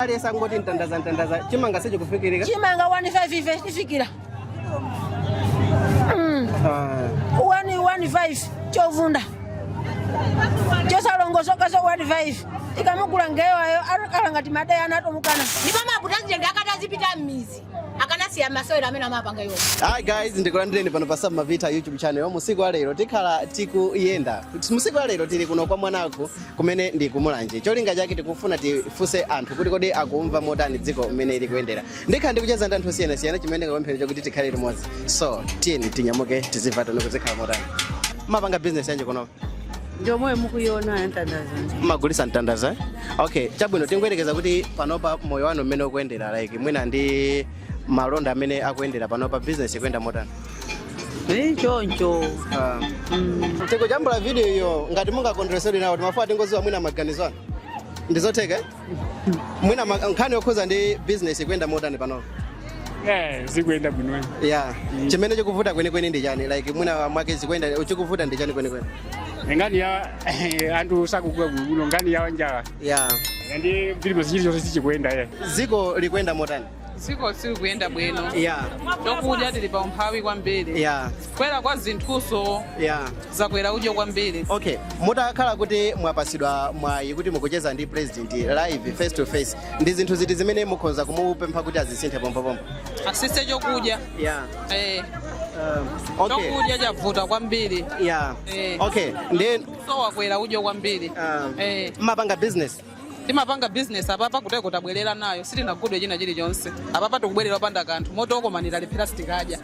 aliyense angoti mtandaza mtandaza chimanga sichikufikirika chimanga 15 chifikira Ah, 115 chovunda chosalongosoka so 15 ikamugula nde iwowo atakhala ngati madai anatomukana ndipo mabutazenge akati azipita m'midzi akanasiya masewero amene amapanga iwo Hi guys, ndikulandireni pano pa Sam Mavita YouTube channel. Musiku wa lero tikhala tikuyenda. Musiku wa lero tili kuno kwa Mwanakhu kumene ndi ku Mulanje cholinga chake tikufuna tifunse anthu kuti kodi akumva motani dziko mmene likuyendera ndikhala ndikucheza ndi anthu osiyanasiyana chimene ndikapemphera chakuti tikhale limodzi so tiyeni tinyamuke tidzimva tione kuti zikhala motani mapanga bizinesi yanji kunopa ndi yomwe mukuiona ya mtandaza mmagulisa mtandaza okay chabwino tingoyerekeza kuti panopa moyo wanu mmene ukuyendera like mwina ndi malonda amene akuyendera panopa bizinesi ikuyenda motani Eh, choncho Ah. Mm. tikujambula video iyo ngati mungakondweretsedwe nawo timafuna tingodziwa mwina maganizo anu ndizotheka eh? mwina ma- nkhani yokhudza ndi business ikuyenda motani panopo Eh, zikuyenda bwino ya chimene chikuvuta kwenikweni ndi chani like mwina mwake zikuyenda chikuvuta ndi chani kwenikweni nkhani ya anthu sakugula bwino nkhani ya njala ya ndi vilimo chilichonse sichikuyenda eh. dziko likuyenda motani dziko silikuyenda bwino yeah chokudya tili pa umphawi kwambiri yeah kukwera kwa zinthunso yeah zakwera udyo kwambiri okay mutakhala kuti mwapatsidwa mwayi kuti mukucheza ndi president live face to face ndi zinthu ziti zimene mukhoza kumupempha kuti azisinthe pompopompo atsitse chokudya yeah eh, um, okay chokudya chavuta kwambiri yeah Eh. okay ndinso wakwera udyo kwambiri Um, eh. mmapanga business Timapanga business apapa kutereko tabwerera nayo sichinagudwe china chilichonse apapa tikubwerera opanda kanthu moti kokomani talephera sitikadya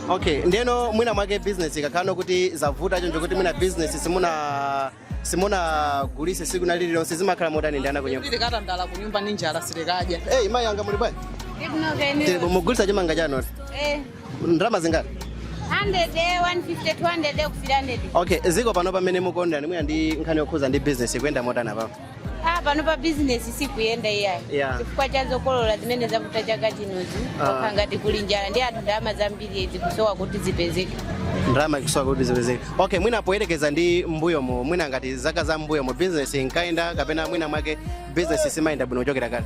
okay ndiyeno mwina mwake business ikakhala kuti zavuta choncho kuti mwina business simuna simunagulise tsiku lina lililonse zimakhala motani ndi ana kunyumba kuti tikatandala kunyumba ni njala sitikadya hey, mayi anga muli bwanji Ndikuno Tili- mukugulitsa chimanga chanoti Eh, ndalama zingati 100 150 200 kufika 300 okay dziko pano pamene mukuonera ndimwina ndi nkhani yokhudza ndi business ikuyenda motani pano ah pano pa bizinesi sikuyenda iyayi Yeah. chifukwa cha zokolola zimene zavuta chaka chinozi Ah. okha ngati kuli njala ndi anthu ndalama zambiri zikusowa kuti zipezeke ndalama ikusowa kuti zipezeke okay mwina poyerekeza ndi mbuyomu mwina ngati zaka za mbuyomo business inkayenda kapena mwina mwake business siimayenda bwino kuchokera kale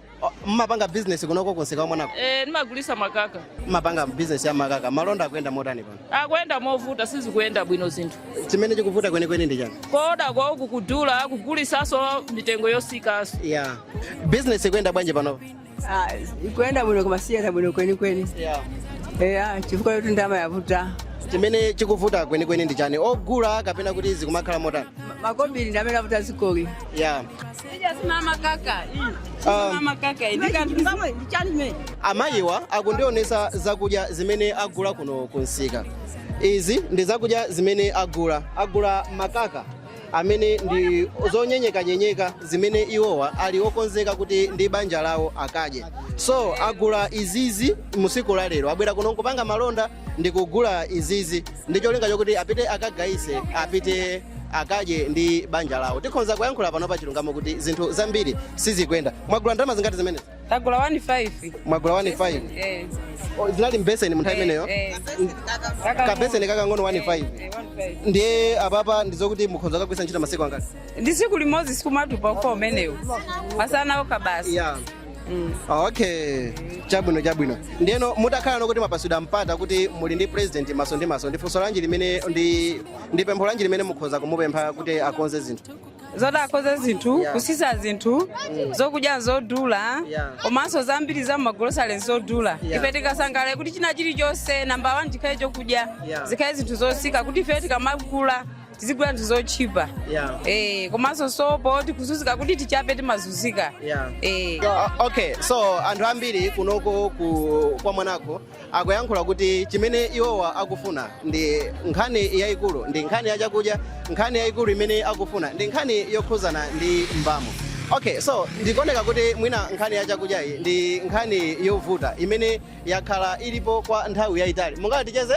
O, mmapanga business kunoko kumsika Mwanakhu Eh, ndimagulitsa makaka mmapanga business ya makaka malonda akuyenda motani pano akuyenda movuta sizikuyenda bwino zinthu chimene chikuvuta kwenikweni ndi chani kooda kwake kukudula kugulitsanso mitengo yotsikanso yeah. business ikuyenda bwanji pano Ah, ikuyenda bwino koma sikuyenda bwino kwenikweni yeah. eya chifukwa choti ndalama yavuta chimene chikuvuta kwenikweni ndi chani ogula kapena kuti zikumakhala motani makobiri ndamene avuta m'dziko yeah. amayiwa akundionesa zakudya zimene agula kuno kumsika izi ndi zakudya zimene agula agula makaka amene ndi zonyenyekanyenyeka zimene iwowa ali okonzeka kuti ndi banja lawo akadye so agula izizi musiku la lero abwera kuno nkupanga malonda ndi kugula izizi ndi cholinga chokuti apite akagayise apite akadye ndi banja lawo tikhonza kuyankhula pano pa chilungamo kuti zinthu zambiri sizikuyenda mwagula ndalama zingati zimenezi tagula 15 mwagula 15 eh O, zinali mbeseni munthawi imeneyo eh kabeseni kakang'ono 15 Eh, 15. ndiye apapa ndizokuti mukhonza kukagwiritsa ntchito masiku angati ndi siku limodzi sikumatupa ufa umenewu masana okha basi yeah. okay chabwino chabwino ndeno mutakhala ndokuti mwapasidwa mpata kuti muli ndi president maso ndi maso ndi funso lanji limene ndi ndi pempho lanji limene mukhoza kumupempha kuti akonze zinthu zoti akonze zinthu Yeah. kusisa zinthu zokudya zodula Yeah. komanso zambiri za mmagolosale zodula Yeah. ife tikasangalale kuti china chilichonse namba 1 chikhale chokudya Yeah. zikhale zinthu zosika kuti ife tikamagula tizigula zinthu zotchipa Yeah. eh, komanso sopo tikuzunzika kuti tichape timazunzika Yeah. eh. O- okay so anthu ambiri kunoko ku, kwa mwanako akuyankhula kuti chimene iwowa akufuna ndi nkhani yayikulu ndi nkhani ya chakudya nkhani yayikulu imene akufuna ndi nkhani yokhuzana ndi mbamo okay so ndikuoneka kuti mwina nkhani ya chakudyayi ndi nkhani yovuta imene yakhala ilipo kwa nthawi yayitali mungati ticheze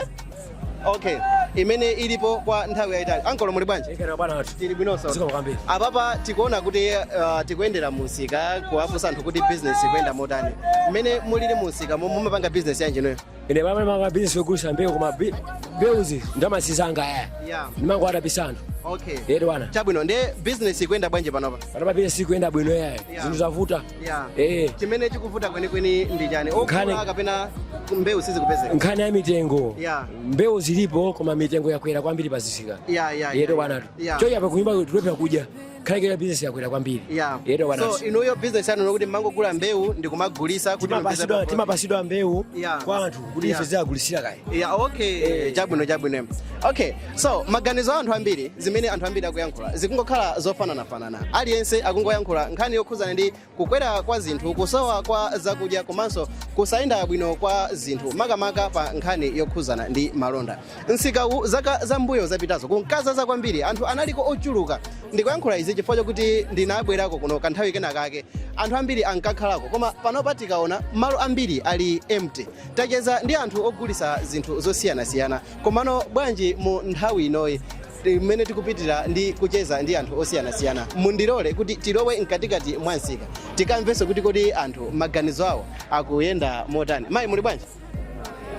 okay imene ilipo kwa nthawi yayitali ankolo muli bwanji Ikera bwana watu. tili bwinonso Ziko kwambiri. apapa tikuona kuti uh, tikuyendera mumsika kuwafunsa anthu kuti business ikuyenda motani mmene mulili mumsika momwe mumapanga business yanji inuyo Ine ndimapanga business yogulisha mbeu koma bi- mbeuzi nzaanzanga aya. yeah. Timangodapitsana. okay Yedi bwana. chabwino nde business ikuyenda bwanji panopa Panopa business sikuyenda bwino yaya. Yeah. Zinthu zavuta. Yeah. Eh. chimene chikuvuta kwenikweni ndi chani Nkhani- ogula kapena mbewu sizikupezeka nkhani ya mitengo Yeah. mbewu zilipo koma mitengo yakwera kwambiri pazisika Yeah, yeah, yeto yeah, bwanatu yeah. choncho kunyumba tikulephera kudya kaamba bizinesi yakwera kwambiri Yeah. yeto so bwanatu inuyo business yanu ndokuti mumangogula mbewu ndi kumagulisa kuti mupeze timapasidwa profit. timapasidwa mbewu Yeah. kwa anthu kuti Yeah. ife tiziwagulisira kaye yeah, okay chabwino chabwino okay so maganizo a anthu ambiri zimene anthu ambiri akuyankhula zikungokhala zofananafanana aliyense akungoyankhula nkhani yokhudzana ndi kukwera kwa zinthu kusowa kwa zakudya komanso kusayenda bwino kwa zinthu makamaka pa nkhani yokhudzana ndi malonda msikawu zaka zambuyo zapitazo kunkazaza kwambiri anthu analiko ochuluka ndikuyankhula izi chifukwa chokuti ndinabwerako kuno kanthawi kena kake anthu ambiri ankakhalako koma panopa tikaona malo ambiri ali empty tacheza ndi anthu ogulisa zinthu zosiyanasiyana Komano bwanji mu nthawi inoyi imene tikupitira ndi kucheza ndi anthu osiyanasiyana, mundilole kuti tilowe mkatikati mwa msika tikamvenso kuti kodi anthu maganizo awo akuyenda motani. Mayi muli bwanji?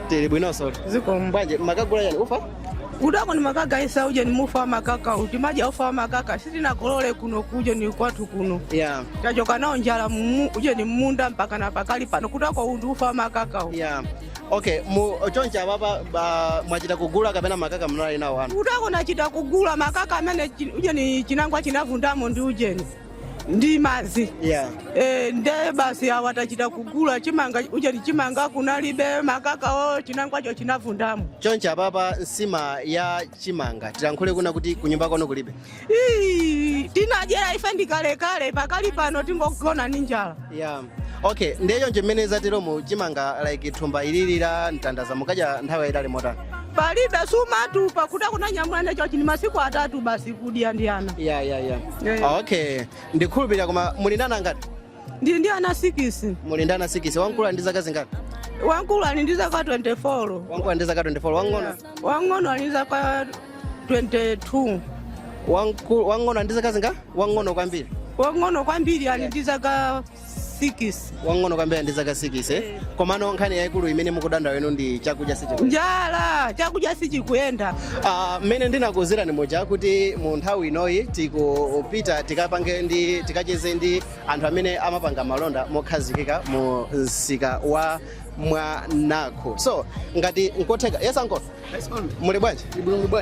Tili bwinonso. Zikomo. Bwanji mukugula chani ufa? Utako ni makaka isa ujeni ufa wa makaka uti maja ufa wa makaka sitina kolole kuno ujeni kwathu kuno Yeah. tachoka nayo njala mumu ujeni munda mpaka na pakali pano kutako ndi ufa wa makaka u Yeah. okay mu chonchi apapa ba- mwachita kugula kapena makaka munali nawo anu utako ndachita kugula makaka amene chi- ujeni chinangwa chinavundamo ndi ujeni ndi madzi yeah Eh, nde basi awa tachita kugula chimanga ujeni chimanga kunalibe makakawo chinangwacho chinavundamo chonchi apapa nsima ya chimanga tilankhule kunena kuti kunyumba kwanu kulibe Ii, tinadyera ife ndikalekale pakali pano tingogona ndi njala yeah. okay ndiye nje mmene zateromo chimanga like thumba ilili la mtandaza mukudya nthawi yayitali motani palibe si matumba kuti akunanyamula ine chonchi ndi masiku atatu basi kudya ndi ana yeah, yeah, yeah. Yeah. okay ndikhulupirira koma muli ndi ana angati ndili ndi ana sikisi muli ndi ana sikisi wamkulu ali ndi zaka zingati wamkulu ali ndi zaka 24 wamkulu ali ndi zaka 24 wang'ono wang'ono ali ndi zaka 22 Wamkulu- wang'ono ali ndi zaka zingati wang'ono kwambiri wang'ono kwambiri ali ndi zaka 6 wang'ono kwambiri ali ndi zaka 6 eh? komano nkhani yayikulu imene mukudandaula inu ndi chakudya sichikudya njala chakudya sichikuyenda Ah, mmene ndinakuuzirani muja kuti mu nthawi inoyi tikupita tikapangeni tikacheze ndi anthu amene amapanga malonda mokhazikika mu msika wa mwanakho so ngati nkotheka yes uncle muli bwanji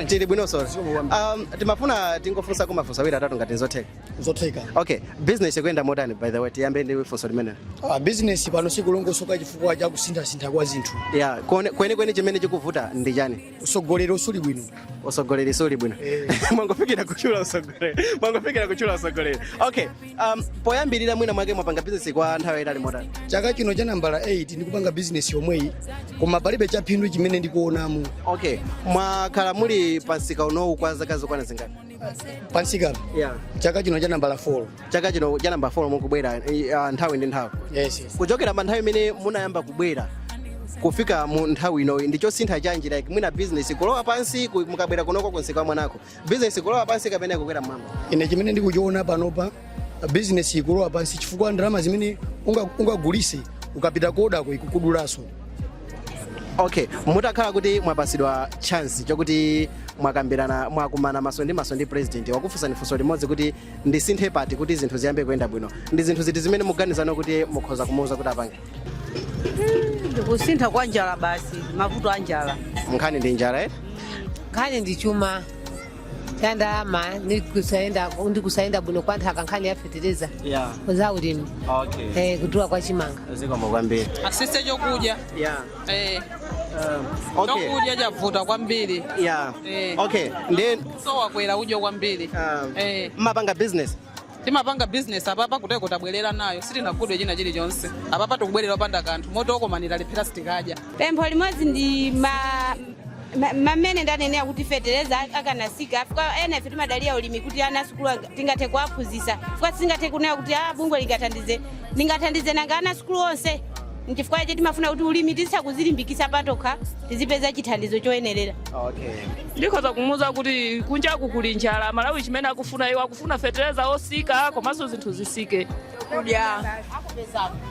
tili bwino kaya inu um, timafuna tingofunsako mafunso awiri atatu ngati nzotheka zotheka okay business ikuyenda motani by the way tiyambe ndi funso limenelo Ah, business pano sikulongosoka chifukwa cha kusinthasintha kwa zinthu yeah kuone- kwenikweni chimene chikuvuta ndi chani utsogoleri suli bwino utsogoleri suli bwino mwangofikira kutchula utsogoleri mwangofikira kutchula utsogoleri okay um, poyambirira mwina mwake mwapanga bizinesi kwa nthawi yayitali motani chaka chino cha nambala 8 ndikupanga bizinesi yomweyi koma palibe chaphindu chimene ndikuonamo okay mwakhala muli pamsika unowu kwa zaka zokwana zingati pamsika uno yeah chaka chino cha nambala 4 chaka chino cha namba 4 mukubwera eh, ah, nthawi ndi nthawi yes yes kuchokera pa nthawi imene munayamba kubwera kufika mu nthawi inoyi ndi chosintha chanji like mwina business kulowa pansi ku- mukabwera kunoko kumsika wa mwanakho business kulowa pansi kapena kukwera mmwamba ine chimene ndikuchiona panopa bizinesi ikulowa pansi chifukwa ndalama zimene unga- ungagulise ukapita kodako ikukudulaso okay mutakhala kuti mwapasidwa chance chakuti mwakambirana mwakumana maso ndi maso ndi president wakufunsani funso limodzi kuti ndisinthe pati kuti zinthu ziyambe kuyenda bwino ndi zinthu ziti zimene mukuganiza kuti mukhoza kumuuza kuti apange kusintha kwa njala basi mavuto a njala nkhani ndi njala eh? nkhani ndi chuma ya ndalama ndi kusayenda ndi kusayenda bwino kwa nthaka nkhani ya fetereza ya za ulimi okay eh, kudula kwa chimanga zikomo kwambiri atsitse chokudya ya eh, okay chokudya chavuta kwambiri ya Eh. okay ndi so wakwera udyo kwambiri Um, eh, mumapanga business Timapanga business apapa kuteko tabwelera nayo sitinagulidwe china chilichonse apapa tikubwelera opanda kanthu moti okomani talephera sitikadya. pempho limodzi ndi ma- ma- mamene ndanenera kuti fetereza akanasika afika ena ife timadalira ulimi kuti ana asukulu anga- tingathe kuwaphunzitsa chifukwa sitingathe kunena kuti a bungwe lingathandize lingathandize nanga ana asukulu onse nchifukwa chake timafuna kuti ulimi tizitha kuzilimbikitsa patokha tizipeza chithandizo choyenerera Okay. ndikhoza kumuuza kuti kunjaku kuli njala Amalawi chimene akufuna iwo akufuna fetereza osika komanso zinthu zisike kudya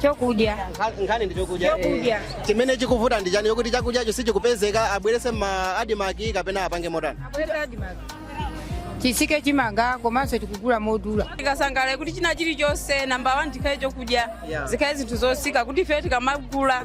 chokudya nkhani ndi chokudya Chokudya. Eh, chimene chikuvuta ndi chani yokuti chakudyacho sichikupezeka abwerese ma adimaki kapena apange motani chisike chimanga komanso tikugula modula tikasangalala kuti china chilichonse namba wani chikhale chokudya Yeah. zikhale zinthu zosika kuti ife tikamagula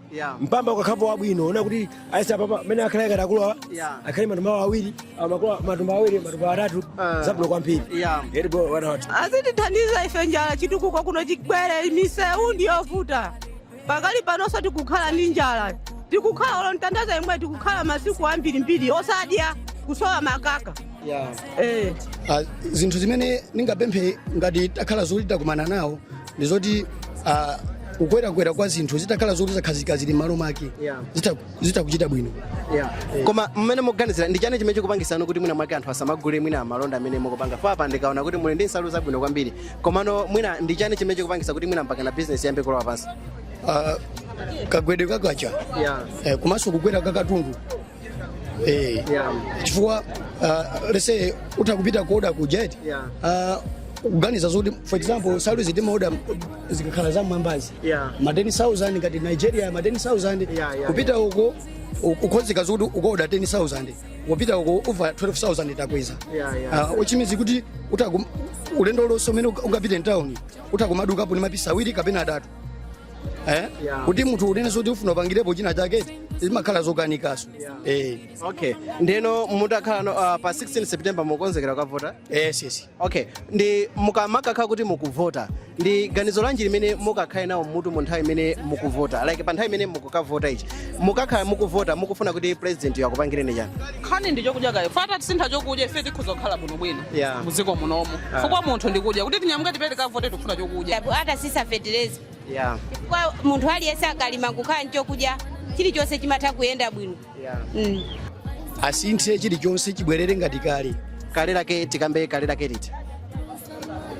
mpamba ukakhalapo wabwino ona kuti aisa papa mene akhale ngati akuluwa akhale matumba awiri ah, makuluwa- matumba awiri matumba atatu zabwino kwambiri eti bro why not azitithandiza ife njala chitukuko kuno chibwere misewu ndiyovuta pakali panonso tikukhala ndi njala tikukhala olo mtandaza imwe tikukhala masiku ambirimbiri osadya kusowa makaka eh. Ah, zinthu zimene ndingapemphe ngati takhala zoti takumana nawo ndi zoti ah, kukwerakwera kwa zinthu zitakhala zoti zakhazika zili m'malo mwake Yeah. zitha- zitha kuchita bwino koma mmene mukuganizira ndi chani chimene chikupangisano kuti mwina mwake anthu asamagule mwina malonda amene mukupanga apapa ndikaona kuti muli ndi nsalu zabwino kwambiri komano mwina ndi chani chimene chikupangisa kuti mwina mpakana bizinesi iyambe kulowa pansi Ah, kagwedwe ka kwacha eh, komanso kukwera kwa katundu Eh, Yeah. chifukwa uh, lese utha kupita kuoda ku jet Yeah. uh, kuganiza zoti for example salary zitimaoda zikakhala za mwambazi Yeah. ma 10000 ngati nigeria ma 10000 Yeah, yeah, kupita uko u- ukhozeka zoti ukoda 10000 kupita uko uva 12000 takweza Yeah, yeah. uh, uchimizi kuti utaku ulendo lonse umene ungapite mtawuni utakumadukapo ni mapisa awiri kapena atatu eh? Yeah. kuti munthu unene zoti ufuna upangirepo china chake zimakhala zokanikaso Yeah. eh. okay ndeno mutakhala no, uh, pa 16 september mukonzekera kukavota yes, yes. okay ndi mukamakakha kuti mukuvota ndi ganizo lanji limene mukakhale nalo mmutu mu nthawi imene mukuvota like pa nthawi imene mukukavota ichi mukakhala mukuvota mukufuna kuti president yo akupangireni chani nkhani ndi chokudya kaye atatisintha chokudya ife tikhoza kukhala bwinobwino Yeah. muziko munomo Ah. fukwa munthu ndikudya kuti tinyamuke tipite tikavote tikufuna chokudya Tabu- atatsitsa fetereza Yeah. kwa munthu aliyense akalima kukhala nchokudya chilichonse chimatha kuyenda bwino Yeah. mm. asinthe chilichonse chibwerere ngati kale kale lake tikambe kale lake liti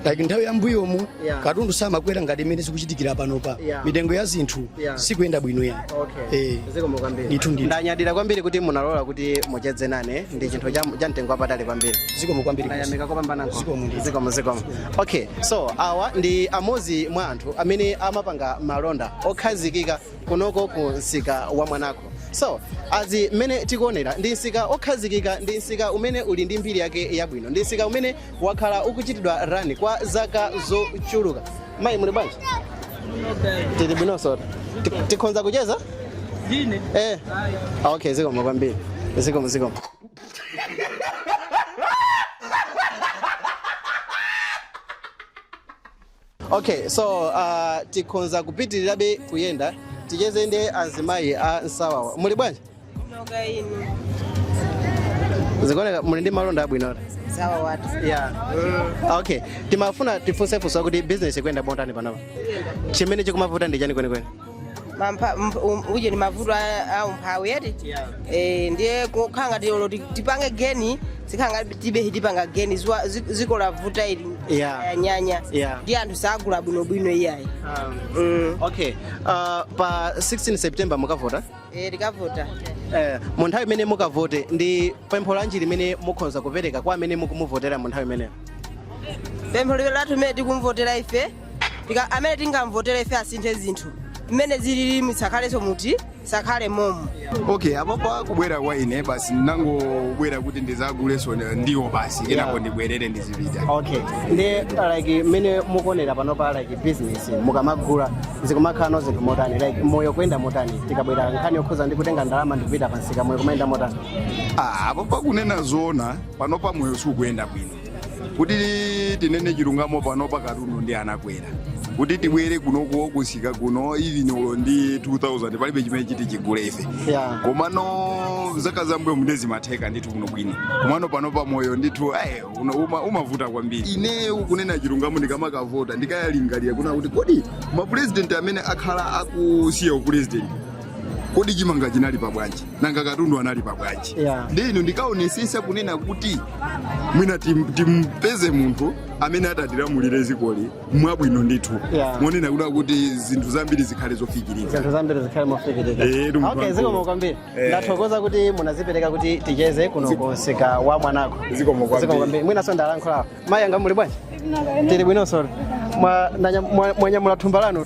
like nthawi yambuyomu Yeah. katundu samakwera ngati mmene zikuchitikira panopa Yeah. mitengo ya zinthu Yeah. sikuyenda bwino ya Eh, zikomo kwambiri Ndithu, ndithu. ndanyadira kwambiri kuti munalola kuti mucheze nane ndi chinthu cha cha mtengo wapatali kwambiri zikomo kwambiri ndayamika kopambana Zikomo ndithu. zikomo zikomo okay so awa ndi amodzi mwa anthu amene amapanga malonda okhazikika kunoko ku msika wa mwanako so as mmene tikuonera ndi msika okhazikika ndi msika umene uli ndi mbiri yake yabwino ndi msika umene wakhala ukuchitidwa rani kwa zaka zochuluka mayi muli bwanji tili bwinonso Ti- tikhonza kucheza eh Ah, okay zikomo kwambiri zikomo zikomo okay so uh, tikhonza kupitirirabe kuyenda ticheze ndi azimayi a nsawawa muli bwanji Kaya inu. zikuoneka muli ndi malonda abwino ati? Nsawawatu. yeah okay timafuna tifunse funso kuti business ikuyenda botani panopa chimene chikumavuta ndi chani kwenikweni Mampa- mp- um- uje ni mavuto a- a umphawi eti Eh, ndiye kukhala ngati olo ti- tipange geni zikhala ngati tibe tipanga geni ziwa- zi- dziko lavuta ili Yeah. yanyanya Yeah. ndi anthu sagula bwinobwino iyayi Mm. okay uh, pa 16 september mukavota Eh, tikavota Eh, mu nthawi imene mukavote ndi pempho lanji limene mukhoza kupereka kwa amene mukumuvotera mu nthawi imeneyo pempho lathu limene tikumvotera ife Tika- amene tingamvotere ife asinthe zinthu mmene zilili misakhalenso muti zisakhale momo okay apapa kubwera kwa ine basi ndangobwera kuti ndizaguleso ndiwo basi kenako ndibwerere ndizipita okay nde like mmene mukuonera panopa like business mukamagula zikumakhalano zinthu motani like moyo kuyenda motani tikabwera nkhani yokhuza ndi kutenga ndalama ndikupita pamsika moyo kumayenda motani Ah, apapa kunena zoona panopa moyo sukuyenda bwino kuti tinene chilungamo panopa katundu ndi anakwera kuti tibwere kunoko kumsika kuno even uli ndi 2000 palibe chimene titi tigule ife Yeah. komano zaka zambuyomu nde zimatheka ndithu kuno bwino komano panopa moyo ndithu eh, uno- uma- umavuta kwambiri ine kunena chilungamo ndikamakavota ndikalingalira kunena kuti kodi mapurezidenti amene akhala akusiya upurezidenti kodi chimanga chinali pabwanji nanga katundu anali pabwanji Yeah. ndiye ndikaonesesa kunena kuti mwina tim- timpeze munthu amene atatilamulire dzikoli mwabwino ndithu Yeah. monena kuda kuti zinthu zambiri zikhale zofikirika zinthu zambiri zikhale mofikirika Eh, tumtu okay wangu. zikomo kwambiri Eh. ndathokoza kuti munazipereka kuti ticheze kuno ku msika wa mwanako Zikomo kwambiri. mwinanso ndilankhuleko mayi anga muli bwanji tili bwinonso Mwa- ndanya- mwa- mwanyamula thumba lanu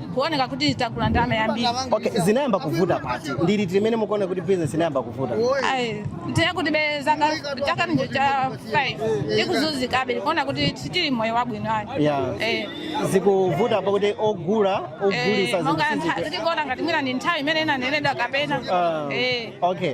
kuoneka kuti tagula ndalama yambiri okay zinayamba kuvuta pati ndi liti mmene mukuona kuti business inayamba kuvuta ayi ndiye kuti be zaka chaka ndicho cha 5 tikuzunzikabe tikuona kuti sitili mmoyo wabwino ayi Yeah. Eh. zikuvuta pakuti ogula ogulisa Eh, monga zinthu ntha- sizikuti- tikuona ngati mwina ndi nthawi imene inanenedwa kapena Ah, Eh. okay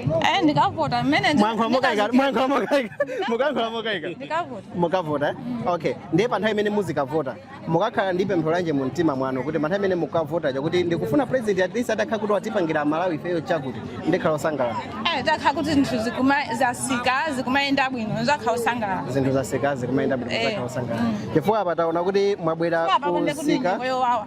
Eh, ndikavota mmene ndi- mwayankhula mokaika ndikazikira. mwayankhula mokaika mukuyankhula mokaika Ndikavota. mukavota eh? okay ndiye pa nthawi imene muzikavota mukakhala ndi pempho lanji mu mtima mwanu kuti pa nthawi imene mukavota chakuti ndikufuna president at least atakhala kuti watipangira Malawi ifeyo chakuti ndikhala osangalala Eh, atakhala kuti zinthu zikuma- zatsika zikumayenda bwino tizakhala osangalala zinthu zatsika zikumayenda bwino Eh. tizakhala osangalala chifukwa apa taona kuti mwabwera apa kunde kuti kumsika nyengo yowawa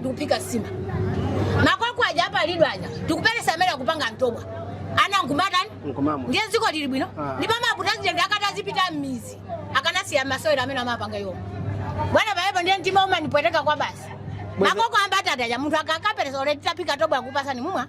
ndikuphika nsima makoko aja apalidwa aja nkuperesa amene akupanga thobwa ana nkumatani Nkumamwa. ndiye dziko lili bwino Ah. ndipo mapulezidenti akati azipita m'mizi akanasiya masewera amene amapanga iwo bwana panjepo ndiye mtima umanipweteka kwabasi Bwezi- makoko a mbatata aja munthu akakaperesa oleti taphika thobwa akupasani mumwa